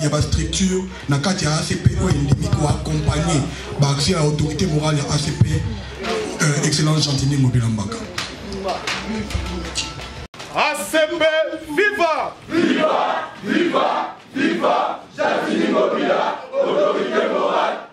ya ba structure na kati ya acp oyo endimi koaccompagne baaction ya autorité morale ya acp euh, excellence gentini mobila mbaka acp viva viva viva viva gentini mobila autorité morale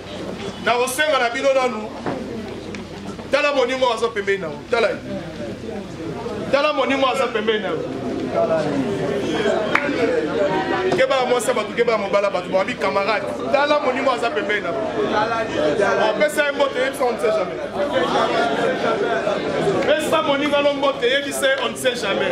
nakosenga na bino nanu tala moninga oyo aza pembeni na yo tala ye tala moninga oyo aza pembeni na yo keba ya mwasi ya bato keba ya mobala bato babi camarade tala moninga oyo aza pembeni na yo opesa ye mbote yebisa on ne sait jamais pesa moninga no mbote yebisa ye on ne sait jamais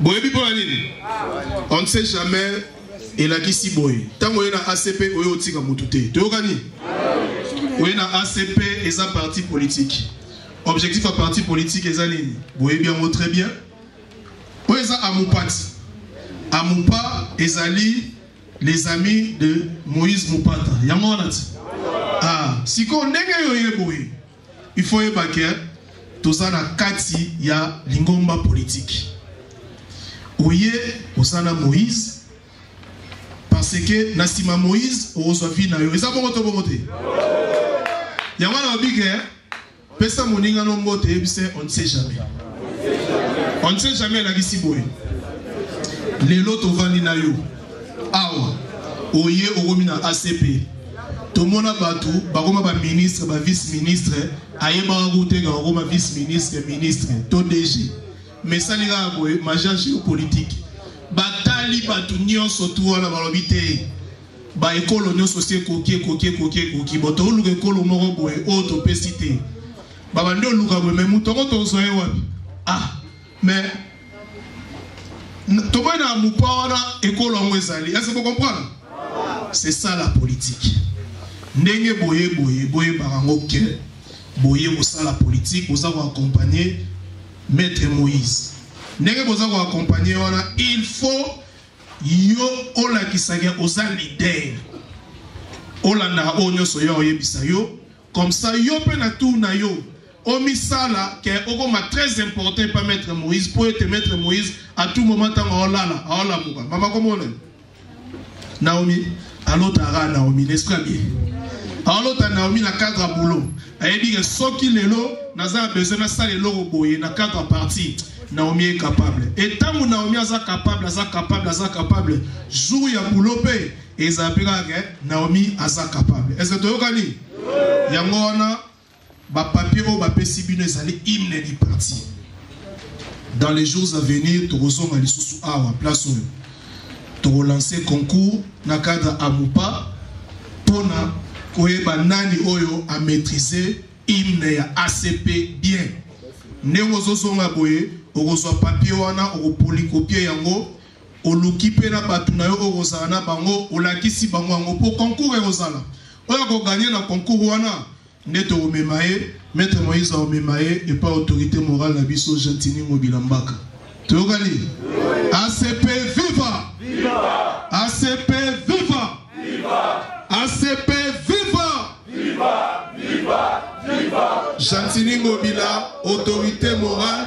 boyebi mpo na nini on ne sait jamais elakisi boye ntango oye na acp oye otika motu te toyokani oye na acp eza parti politique objectif ya parti politique eza nini boyebi yango très bien oyo eza amupati amupa ezali les amis de moïse mupata yango wana ti ah, sikoyo ndenge yo ye boye Il faut yeba que toza na kati ya lingomba politique. Oye oza na Moïse parce que na sima Moïse okozwa vie na yo. Eza bongo to bongo te. Yango na obike hein? pesa moninga no mbote yebise on ne sait jamais on ne sait jamais elakisi boye lelo tovandi na yo awa oye okomi na acp tomona bato bakoma baministre bavice ministre ayebaka koteka kokoma vice ministre ministre to dg mesali kaka boye maja géopolitique batali bato nyonso tu wana balobi te baekolo nyonso si ekoki ekoki ekoki ekoki bo tooluka ekolo moko boye oyo topesi te babandi oluka boye me moto yango tozwa ye wapi ah Mais tomoni na mupa wana ekolo yango ezali ese bocomprendre c'est ça la politique ndenge boye boye boyebaka yango ke boye kosala politique boza koaccompagne maître moïse ndenge boza koaccompagne wana il faut yo olakisaka oza leader olandaka oyo nyonso yo oyebisa yo Comme ça yo pe na tour na yo omisala ke okoma très important epa maitre moïse mpo ete maitre moïse à tout moment ntango aolala aolamuka mama komona naomi alotaka naomi nesprit abie aolota naomi na cadre ya boulot ayebi ke soki lelo naza na besoin nasala eloko boye na cadre ya parti naomi est capable e ntango naomi aza capable aza capable aza capable jour ya boulot mpe Eza pe kaka ke Naomi aza capable. Est-ce que toyokani? Yango wana ba papiers oyo bapesi bino ezali hymne du parti. Dans les jours à venir tokozonga lisusu awa place oyo tokolancer concours na cadre amupa mpona koyeba nani oyo a maîtriser hymne ya acp bien ndenge ozozonga boye okozwa papier wana okopolikopie yango Oluki mpe na bato na yo oyo okozala na bango, olakisi bango yango mpo concours ekozala. Oyo akoganye na concours wana nde tokomema ye, Maître Moïse akomema ye epa autorité morale na biso Gentini Ngobila Mbaka. Toyokani? ACP viva! Viva! ACP viva! Viva! ACP viva! Viva! Viva! Viva! Gentini Ngobila, autorité morale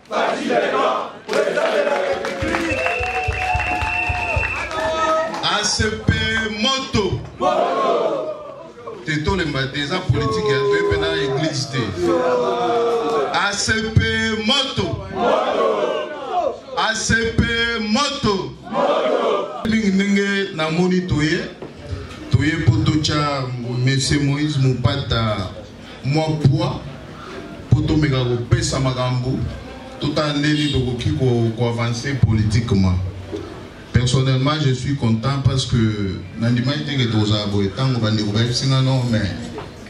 ACP moto te tolemba te eza politike ya toye mpe na eglise te ACP moto ACP moto mingi ndenge namoni toye toye mpo totya mese moïse mopata mwa pwa mpo tomeka kopesa makambo totala ndenge tokoki koavancer politiquement personnellement je suis content parce que nandimaki te ke tozala boye ntango bandeko bayebisi nga non mais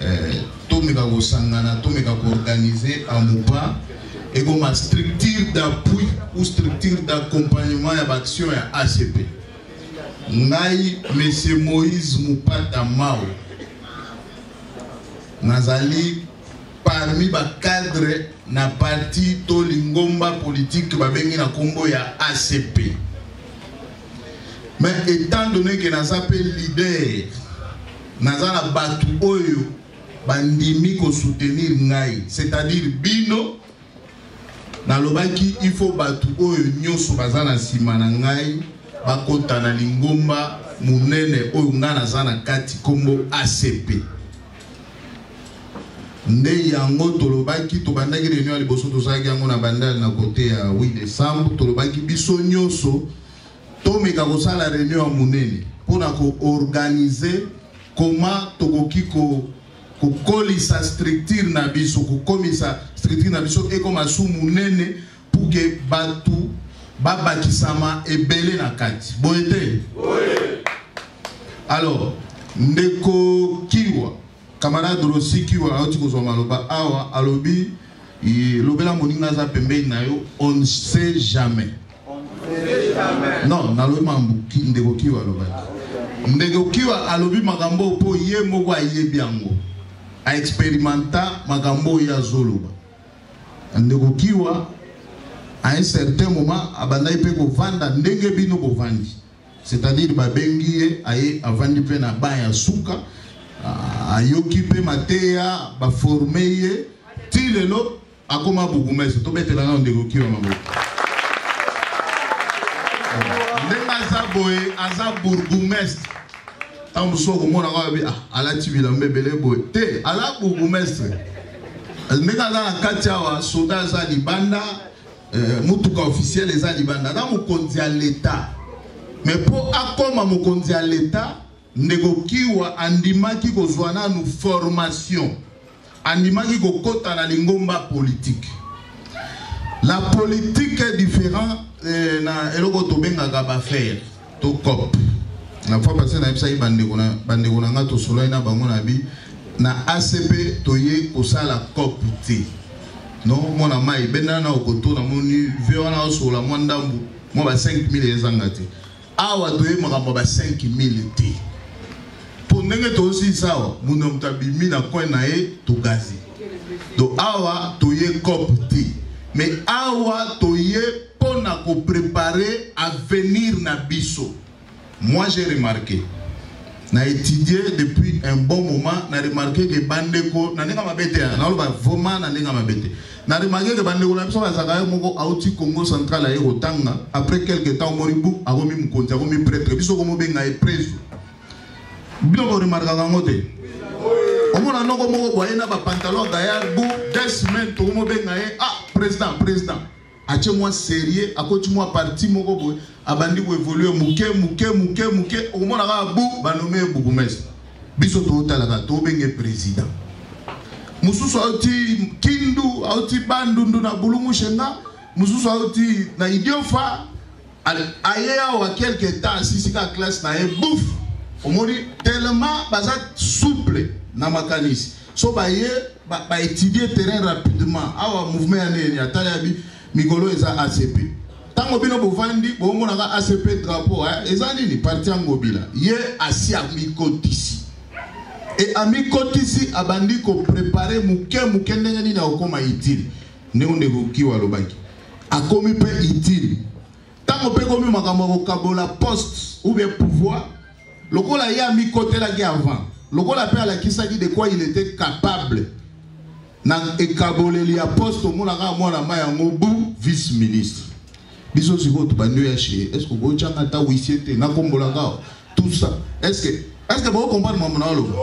eh, tomeka kosangana tomeka koorganiser amupa ekoma structure d'appui ou structure d'accompagnement ya baaction ya acp ngai monsieur moïse mupata mao nazali parmi ba cadre na parti to lingomba politique babengi na kombo ya acp mais étant donné que naza mpe leader naza na bato oyo bandimi kosoutenir ngai c'est-à-dire bino Nalobaki, Il faut bato oyo nyonso baza na nsima na ngai bakota na lingomba monene oyo ngai naza na kati, nkombo ACP. Nde yango tolobaki, tobandaki reunion ya liboso, tozalaki yango na bandal na kote ya 8 décembre, tolobaki biso nyonso tomeka kosala reunion ya monene mpo na koorganize koma tokoki ko kokolisa structure na biso kokomisa structure na biso ekoma su monene pour que bato babakisama ebele na kati boye te alors ndeko kiwa camarade rosi kiwa auti kozwa maloba awa alobi lobela moninga aza pembeni na yo on ne sait jamais Non, nalobi mambo ndeko Kiwa alobaki. Ndeko Kiwa alobi makambo mpo ye moko ayebi yango. A experimenta makambo oyo azoloba. Ndeko Kiwa à un certain moment abandaki mpe kovanda ndenge bino bovandi. C'est-à-dire babengi ye aye avandi mpe na ban ya suka ayoki mpe mateya baforme ye ti lelo Akoma bourgmestre, tobetela nano ndeko Kiwa maboko. Ndenge aza boye, aza bourgmestre. Ntango mosusu okomona kaka bi ah, alati bilamba ebele boye te, aza bourgmestre. Ndenge aza na kati awa, soda aza libanda, eh, motuka officiel eza libanda, aza mokonzi ya leta. Mais mpo akoma mokonzi ya leta Ndeko Kiwa andimaki kozwa nanu formation, andimaki kokota na lingomba politique. La politique est différent eh, na eloko tobengaka bafere to cop na fois passé nayebisaki bandeko na bandeko na ngai tosolaki na bango na bi na acp toye kosala cop te no mwana mai bendana na okoto namoni ve wana osolola mwa ndambu mwa ba 5000 ezanga te Awa toye makambo ba 5000 te. Po ndenge tosi sawa, muno mtabimi na coin na ye to gazi. Donc awa toye cop te. Mais awa toye pona ko préparer avenir na biso. Moi j'ai remarqué na étudié depuis un bon moment na remarqué que bandeko na ndenge mabe te na loba vraiment na ndenge mabe te Na remarquer que bandeko na biso bazalaka ye moko auti Congo central aye kotanga après quelque temps omoni bu akomi mokonzi akomi pretre biso komobenga ye preso bino boremarkaka yango te omona noko moko boye na bapantalon gayard bu deux semaines tokomobenga ye ah président président atie mwa serie akoti mwa parti moko boye abandi ko evoluer muke muke muke muke okomona kaka bu banome ye bourgmestre biso tootalaka tobenge président mosusu auti kindu auti bandundu na bulungu shenga mosusu auti na idiofa aye awa quelque temps asisika classe na ye bouf omoni tellement baza souple na makanisi so baye baétudie terrain rapidement awa mouvement ya nini atali abi Mikolo eza ACP. Tango bino bovandi bomona ka ACP drapeau eh, eza nini parti ya Ngobila. Ye asi amikotisi. E amikotisi abandi ko préparer muke muke ndenge nini akokoma utile. Ndenge ndeko Kiwa alobaki. Akomi pe utile. Tango pe komi makambo ya kokabola poste ou bien pouvoir lokola ye amikotelaki avant lokola pe alakisaki de quoi il était capable Na ekaboleli ya poste tomona kaka mwana mai yango bu vice ministre. Biso sikoyo tobandi oya chez est ce que okoki tyanga ata huissier te nakombolaka awa tout ça est ce que est ce que boko comprendre mambo na oloba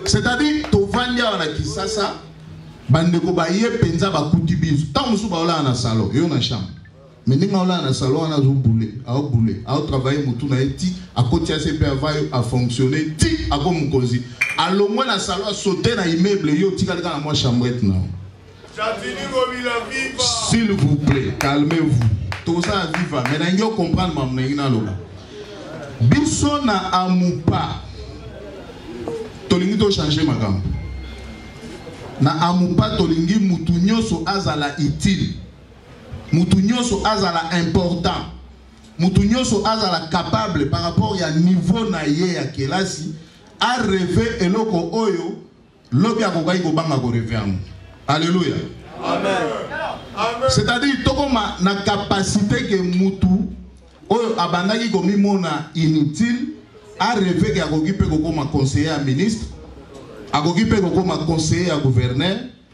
c'est à dire tovandi awa na kisasa bandeko baye mpenza bakuti biso ntango mosusu baolala na salon yo na chambre Mais ndenge olala na salon wana azo boule, ao boule, ao travailler mutu na ye ti akoti ACP avant yo a fonctionner ti ako mokonzi. Alongwe na salon sauter na immeuble yo otikali kaka na mwa chambrette na yo. S'il vous plaît, calmez-vous. Tout ça à viva. Mais n'ayez comprendre ma mnaïna loba. Biso na amupa. Tolingi to changer makambo. Na amupa tolingi mutu nyoso azala utile. Mutu nyoso azala important. Mutu nyoso azala capable par rapport ya niveau na ye ya kelasi a reve eloko oyo lobi akokaki kobanga ko reve yango. Alléluia. Amen. C'est-à-dire tokoma na capacité que mutu oyo abandaki komimona inutile a reve ke akoki mpe kokoma conseiller ya ministre akoki mpe kokoma conseiller ya gouverneur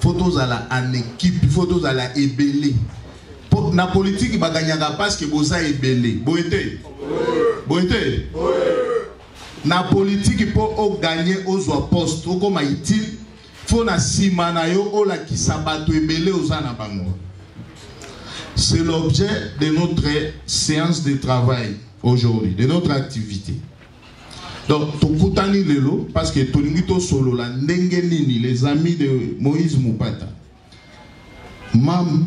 faut tozala en équipe il faut tozala ebele po na politiki baganyaka parce que boza ebele boye te boye te na politiki mpo oganye ozwa poste okoma utile fo na nsima na yo olakisa bato ebele oza na bango c'est l'objet de notre séance de travail aujourd'hui de notre activité Donc tokutani lelo parce que tolingi tosolola ndenge nini les amis de Moïse Mupata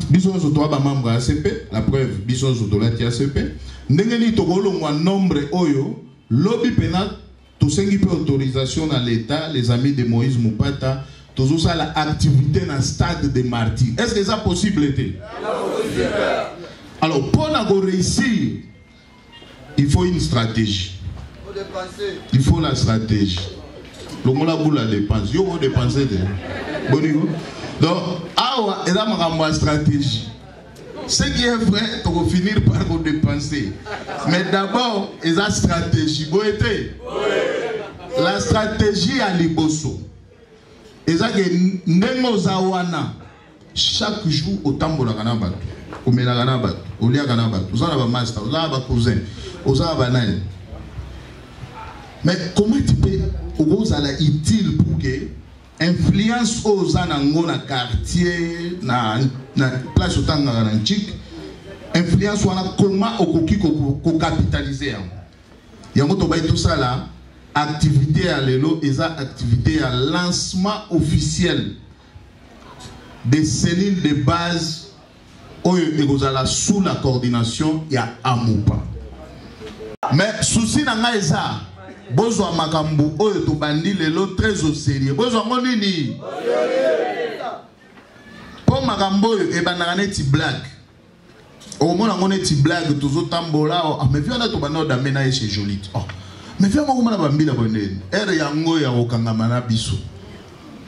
biso nyonso toa bamembre ya acp la preuve biso nyonso tolati acp ndenge nini tokolongwa nombre oyo lobi mpena tosengi mpe autorisation na l'état les amis de moïse mupata tozosala activité na stade de martyr est ce que eza possible te alors mpo na koreusir il faut une stratégie il faut la stratégie longola bula dépense yo kodepense te boniko donc awa eza makambo ya stratégie ce qui est vrai tokofinir par kodepense mais d'abord eza stratégie boye te la stratégie ya liboso eza ke ndenge oza wana Chaque jour otambolaka na bato, omelaka na bato, oliaka na bato, oza na ba masta, oza na ba cousin, oza na ba nani. Mais comment tu peux okozala utile pour que influence oyo oza nango na quartier na, na place otangaka na nchik influence wana koma okoki kokapitalize yango yango tobai tosala activité ya lelo eza activité ya lancement officiel des cellules de base oyo ekozala sous la coordination ya amupa mais souci na ngai eza bozwa makambo oyo tobandi lelo très au sérieux bozwa yango nini mpo makambo oyo ebandaka neti blague okomona yango neti blague tozotambola oh, ah, mais vi wana tobanda odame na ye chez jolie oh. mais vi yango okomona bambila bonene ere yango ya kokangama na biso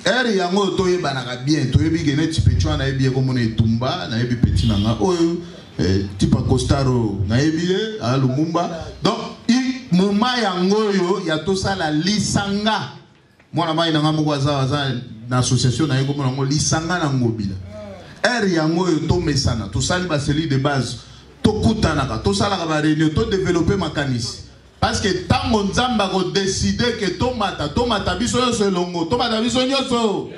ere yango oyo toyebanaka bien toyebi ke neti peti wana nayebi ye komona etumba nayebi peti na nga oyo eh, tipa costaro nayebi ye aya lumumba donc moma yango oyo ya tosala lisanga mwana mai na ngai moko aza aza na association na ye kombo nango lisanga na ngobila ere yango oyo tomesana tosali baseli de base tokutanaka tosalaka bareunion todevelope makanisi parce que ntango nzambe akodeside ke tomata tomata biso nyonso elongo tomata biso nyonso elongo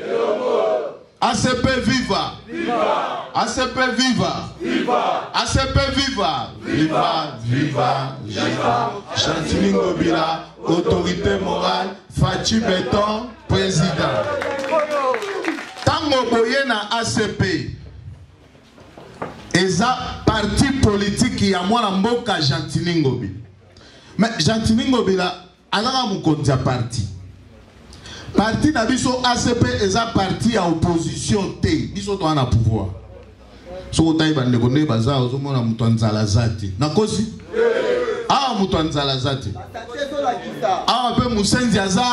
ACP viva! Viva! ACP viva! Viva! ACP viva! Viva! Viva! Viva! Chantiling Obila, autorité morale, Fatshi Beton, président. Tango boye na ACP eza parti politique ya mwana mboka Gentini Ngobila. Mais Gentini Ngobila Azaka mokonzi ya parti. Parti na biso ACP eza parti ya opposition te. Biso toa na pouvoir. Soki otayi bandeko nde baza ozomona moto ya nzala aza te. Nakosi? Awa moto ya nzala aza te. Awa mpe mosenzi aza.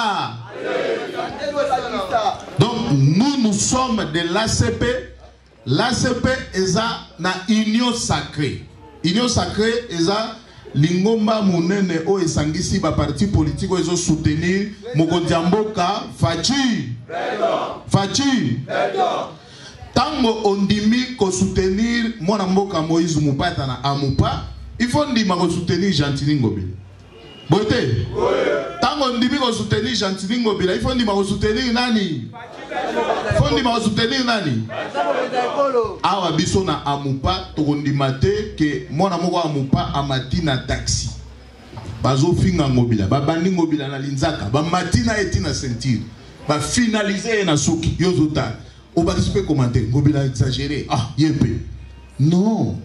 Donc nous nous sommes de l'ACP L'ACP eza na union sacree. Union sacree eza lingomba monene oyo esangisi ba parti politique oyo ezo soutenir mokonzi ya mboka Fatshi. Fatshi. Tango ondimi ko soutenir mwana mboka Moïse Mupata na Amupa, il faut ndima ko soutenir Gentini Ngobila. boye te ntango ondimi kosoutenir gentini ngobila ifo ondima kosoutenir nani fo ondima kosoutenir nani awa biso na amupa tokondima te ke mwana moko amupa amati na taxi bazofinga ngobila babandi ngobila na linzaka bamati na ye ti na ceinture bafinalize ye na suki yo ozotala obakisi mpe komante ngobila exagere ah ye mpe non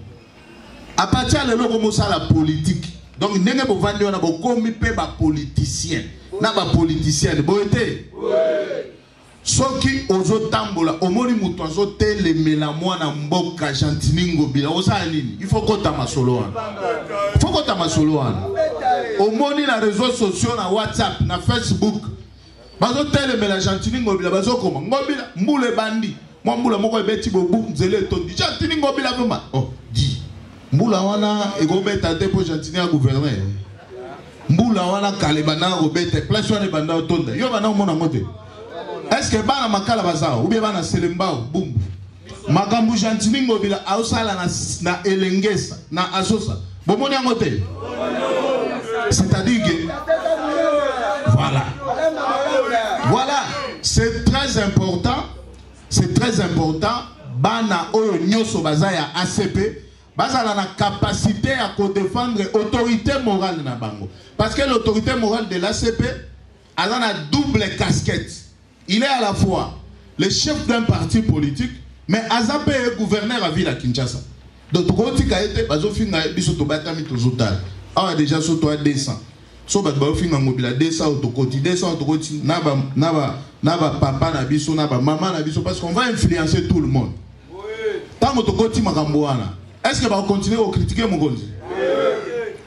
A partir lelo ko mosala politique. Donc ndenge bovandi wana bokomi pe ba politiciens na ba politiciennes boye te. Soki ozotambola omoni moto azotelemela mwana mboka gentini ngobila osala nini il faut kota masolo wana il faut kota masolo wana omoni na réseaux sociaux na whatsapp na facebook bazotelemela gentini ngobila bazokoma ngobila mbula ebandi mwa mbula moko ebeti bobu nzela etondi gentini ngobila vrema oh, di mbula wana ekobeta te mpo gentini ya gouverner mbula wana kala ebandaka kobeta place wana ebanda otonda yo banda omona yango te estce bana makala baza ou bien bana selembao bumbu makambo gentini ngobila aosala na, na elengesa na asosa bomoni yango te c'est-à-dire que voilà voilà c'est très important c'est très important bana oyo nyonso baza ya acp bazala na capacité ya kodefendre autorité morale na bango parce que l'autorité morale de l'acp aza na double casquette il est à la fois le chef d'un parti politique mais aza mpe ye gouverneur ya ville ya kinshasa donc tokotika ye te bazofinga ye biso tobatami tozotala awa deja so toya 200 so bato bazofinga ngobila 200 oyo tokoti 200 oyo tokoti na bapapa na biso na bamama na biso parce qu'on va influencer tout le monde ntango tokoti makambo wana eske bakokontinue kokritike mokonzi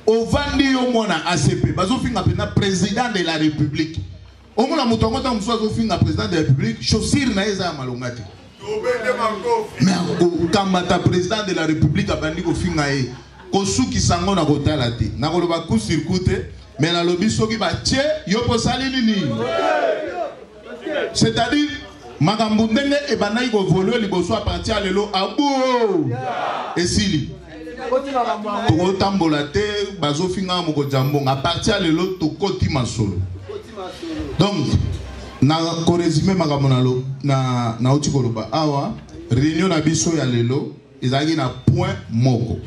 ovandi yo mwana acp bazofinga mpenza président de la république omona moto yango ntango mosusu azofinga président de la république chaussure na ye eza ya malonga te me akokamata président de la république abandi kofinga ye kosukisa yango na kotala te nakoloba kusirku te me nalobi soki batye yo mpo osali nini c'est-à-dire makambo ndenge ebandaki kovolue liboso ya parti ya lelo abuo esili tokotambola te bazofinga mokonzi ya mbongo aparti ya lelo tokoti masolo donc na koresume makambo nauti koloba awa réunion na biso ya lelo ezalaki na point moko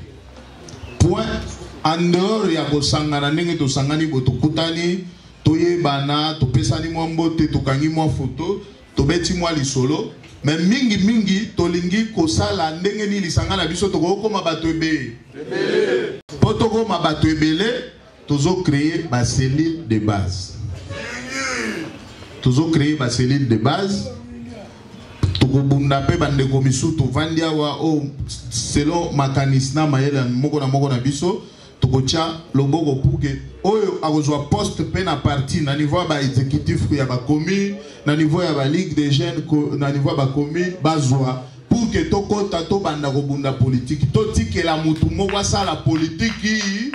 point en dehors ya kosangana ndenge tosangani bo tokutani toyebana topesani mwa mbote tokangi mwa foto tobeti mwa lisolo me mingi mingi tolingi kosala ndenge nini lisanga na biso tokoki kokoma bato ebele mpo tokoma bato ebele Tozo creer ba cellules de base. Tozo creer ba cellules de base. tokobunda mpe bandeko misusu tovandi awa oyo oh, selon makanisi na mayele moko na moko na biso tokotya loboko puke oyo akozwa poste mpe na parti na niveau ya baexécutif ya bacommune na niveau ya baligue des jeunes na niveau ya bacommune bazwa Pour que tokota tobanda kobunda politiki totikela mutu moko asala politiki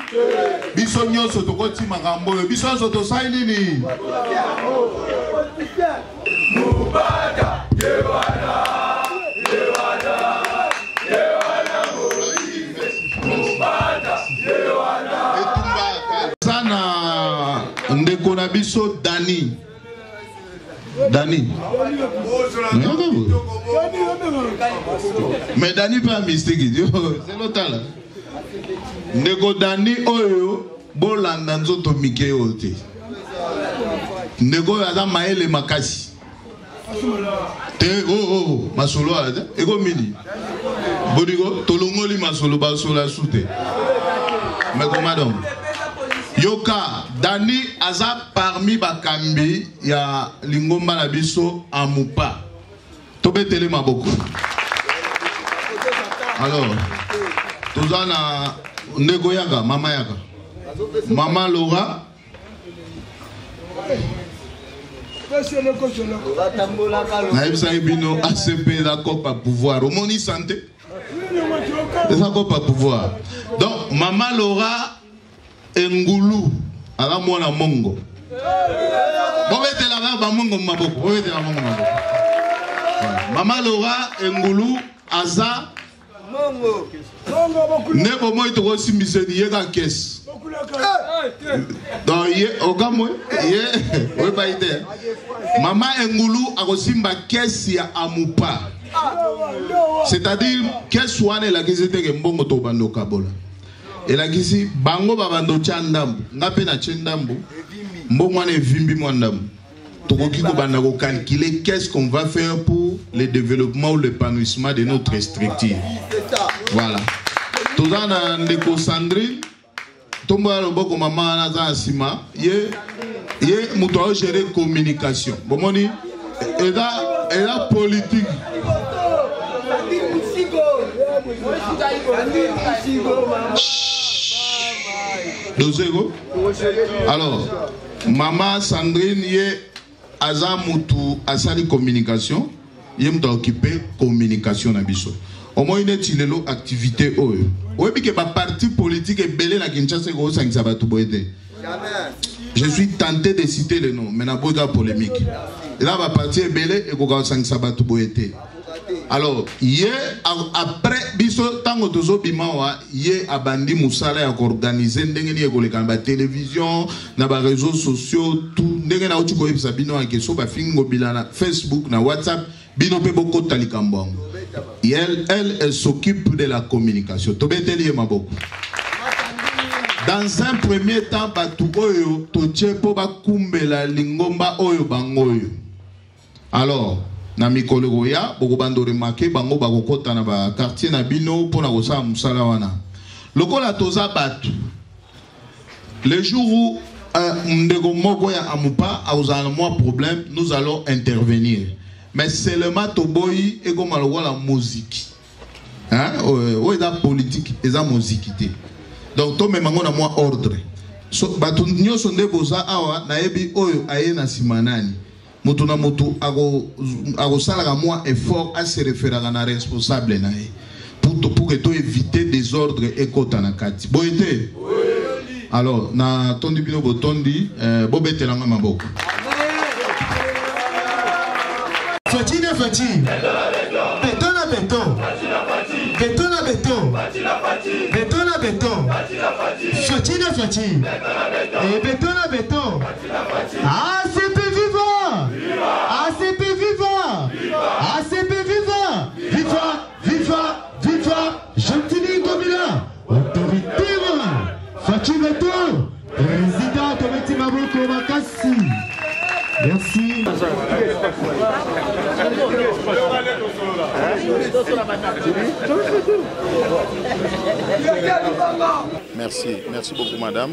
biso nyonso tokoti makambo oyo biso nyonso tosali nini mubata yewana ndeko na biso dani Dani. Mais Dani pas mystique. C'est l'autre là. Ndeko Dani oyo bolanda nzoto mike oyo te. Ndeko oyo aza mayele makasi. Te oh oh, oh masolo ala te. Eko mini. Bodiko tolongoli masolo basola sute. Mais comment donc? Yoka Dani aza parmi bakambi ya lingomba na biso amupa tobetele maboko alors toza na ndeko yaka mama yaka mama lora nayebisaki bino acp eza copa pouvoir omoni sante eza copa pouvoir donc mama lora engulu aza mwana mongo bobetelaka bamongo maboko bobetela mongo maboko mama lora engulu aza nde bomoi tokosimbiseni ye ka kesi donc ye okamwe ye oyebai te mama engulu akosimba kesi ya amupa c'est-à-dire kesi wana elakisi teke mbongo tobanda okabola elakisi bango babanda otya ndambo nga mpe natye ndambo mbongo wana evimbi mwa ndambo tokoki kobanda kokalkule qu'est-ce qu'on va faire pour le développement ou l'épanouissement de notre structure voilà toza na ndeko sandrine tombola loboko mama wana aza na nsima ye ye moto ao gérer communication bomoni eza eza politique dozeko alors mama sandrine ye aza mutu asali communication ye moto aokipe communication na biso omoi neti lelo activité oyo oyebi ke baparti politique ebele na kinshasa ekosangisa bato boye te je suis tenté de citer le nom mais naboyika polémique eza baparti ebele ekoka kosangisa bato boye te alors ye après biso ntango tozobima wa ye abandi mosala ya koorganize ndenge nini ekoleka na batelevizio na ba réseaux sociaux tout ndenge nauti koyebisa bino ake so bafingi ngobila na facebook na whatsapp bino mpe bokota likambo yango elle, elle, elle s'occupe de la communication tobeteli ye maboko dans un premier temps bato oyo totie mpo bakumbela lingomba oyo bango oyo Alors, na mikolo ekoya, bokobanda o remarquer bango bakokota na ba quartier na bino mpo na kosala mosala wana. Lokola toza batu, le jour où un ndeko moko ya Amupa akozala na mwa problème, nous allons intervenir. Mais seulement toboyi ekoma lokola moziki. Hein? Oyo eza politique, eza moziki te. Donc tomema ngo na mwa ordre. So, bato nyonso nde boza awa nayebi oyo aye na nsima nani moto na moto akosalaka mwa effort ase referaka na responsable na ye pour que to éviter désordre ekota na kati boye te alors natondi bino botondi eh, bobetela nga maboko feti na feti beton na beton beton na beton beton na beton feti na feti beton na beton ACP viva! ACP viva! ACP viva! Viva! Viva! Viva! Gentini Ngobila! Autorité morale! Fatshi Beto! Président Tometi Maboko Makasi! Merci. Merci, merci beaucoup madame.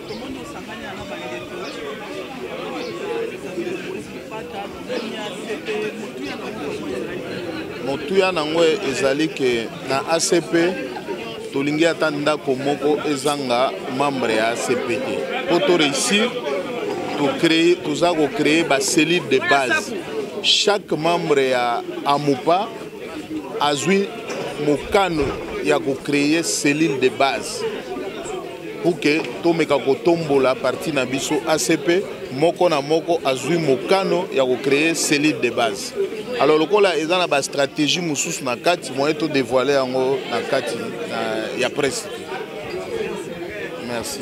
motuya na yango ezali ke na acp tolingi ata ndako moko ezanga membre ya acp te mpo to réussir toza kocréer bacellule de base chaque membre ya amupa azwi mokano ya kocréer cellule de base pour que tomeka kotombola parti na biso acp moko na moko azwi mokano ya kocreye cellule de base alors lokola eza na bastratégie mosusu na kati moye todevoile yango na kati ya presse merci